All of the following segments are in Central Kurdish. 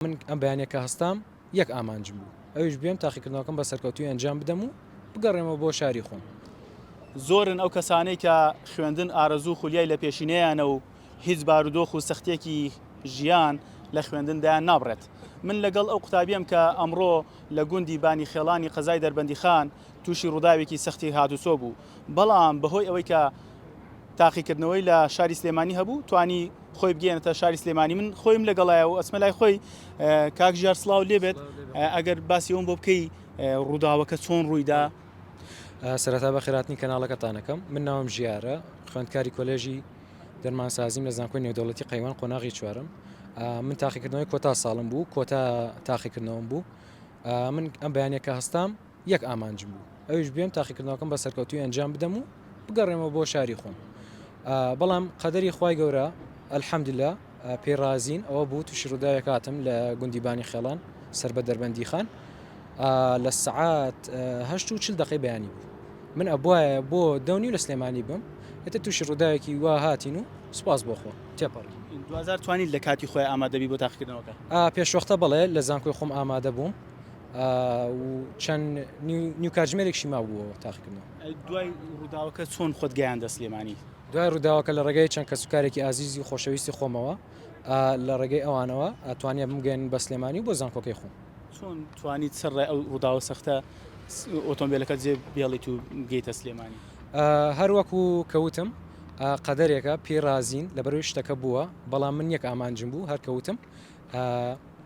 من ئەم بەیانیە کە هەستام یەک ئامانجم بوو ئەویش بێم تاقیکردنەوەکەم بە سەرکەوتوی ئەنجام بدەم و بگەڕێمەوە بۆ شاری خۆم. زۆرن ئەو کەسانەی کە خوێندن ئارەزوو خولیای لە پێشینەیانە و هیچ بارودۆخ و سەختیەکی ژیان لە خوێندن دایان نابڕێت. من لەگەڵ ئەو قوتابیەم کە ئەمڕۆ لە گوندی بانی خێڵانی قەزای دەربەندیخان توشی ڕوداوێکی سەختی هاتوچۆ بوو بەڵام بەهۆی ئەوەی کە تاقیکردنەوەی لە شاری سلێمانی هەبوو توانی خۆی بگەێنێتە شاری سلێمانی من خۆیم لەگەڵایە و ئەسمە لای خۆی کاک ژار سلااو لێبێت ئەگەر باسیەوەم بۆ بکەی ڕووداوەکە چۆن ڕوویدا سەرەتا بە خێراتنی کەناڵەکەتانەکەم من ناوم ژیارە خوێندکاری کۆلێژی دەرمانسازیم لە زانکۆی نێودەوڵەتی قەیوان قۆناغی چوارم من تاقیکردنەوەی کۆتا ساڵم بوو کۆتا تاقیکردنەوەم بوو من ئەم بەیانەکە هەستام یەک ئامانجم بوو ئەویش بێم تاقیکردنەوەکەم بە سەرکەوتوی ئەنجام بدەم و بگەڕێمەوە بۆ شاری خۆم بەڵام قەدەری خی گەورە ئەلحەمدلە پێڕازین ئەوە بوو تووشی ڕووداوێک هاتم لە گوندیبانی خێڵان سەر بە دەربەندی خان لە سعات هەشت و چل دقی بەیانی بوو من ئەبواە بۆ دەونی و لە سلێمانی بم ئێتە تووشی ڕووداوێکی وا هاتین و سپاس بۆخۆ تێپەڕ دوزار توانیت لە کاتی خۆی ئامادەبی بۆ تاقیکردنەوەکە پێشوەختە بڵێ لە زانکۆی خۆم ئامادە بووم و چەند نیو کاتژمێرێکشی مابووەوە تاقیکردنەوە دوای ڕووداوەکە چۆن خۆت گەیان دەست لێمانی دوای ڕووداوەکە لە ڕێگەی چەند کە سوکارێکی ئازیزی و خۆشەویستی خۆمەوە لە ڕێگەی ئەوانەوە ئەتوانیا بمگەن بە سلێمانی بۆ زانکۆکەی خۆم چۆن توانی سەر ڕێ ئەو ڕووداوە سەختە ئۆتۆمبیلەکە جێ بێڵیت و گەیتە سلێمانی هەروەکو کەوتم قەدەرێکە پێرازین لە بەرەوەی شتەکە بووە بەڵام من یەک ئامانجم بوو هەرکەوتم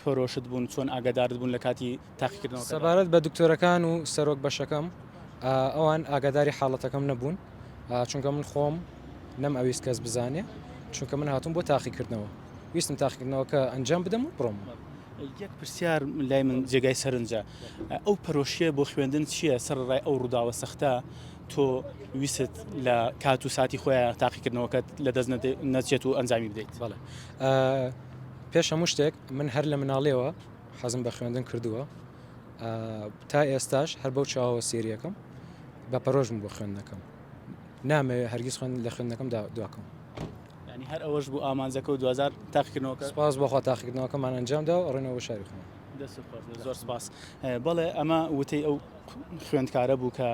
پەرۆشت بوون چۆن ئاگادارت بوون لە کاتی تاقیکردنەوە؟ سەبارەت بە دکتۆرەکان و سەرۆک بەشەکەم ئەوان ئاگاداری حاڵەتەکەم نەبوون چونکە من خۆم نەم ئەویست کەس بزانێ چونکە من هاتوون بۆ تاقیکردنەوە ویستم تاقیکردنەوە کە ئەنجام بدەم و بڕۆم. یەک پرسیار لای من جێگای سەرنجە ئەو پەرۆشیە بۆ خوێندن چییە سەر ڕای ئەو ڕووداوە سەختە تۆ ویست لە کات و ساتی خۆیان تاقیکردنەوەکەت لە دەست نەچێت و ئەنجامی بدەیت بەڵێ پێش هەموو شتێک من هەر لە مناڵیەوە حەزم بە خوێندن کردووە تا ئێستاش هەر بەو چاوەوە سێریەکەم بە پەرۆژم بۆ خوێندنەکەم نامەوێت هەرگیز خوێن لە خوێندنەکەم دواکەم ینی هەر ئەوەش بوو ئامانجەکە و دوزار تاقیکردنەوەکە سپاس بۆخوا تاقیکردنەوەکەمان ئەنجامدا و ڕێنەوە شاری خۆم دەست زۆر سپاس بەڵێ ئەمە وتەی ئەو خوێندکارە بوو کە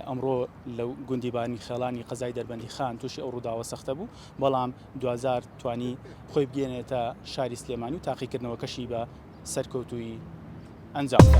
ئەمڕۆ لە گوندی بارنی خێڵانی قەزای دەربەندی خان تووشی ئەو ڕووداوە سەختە بوو بەڵام دوزار توانی خۆی بگەێنێتە شاری سلێمانی و تاقیکردنەوەکەشی بە سەرکەوتوی ئەنجامدا.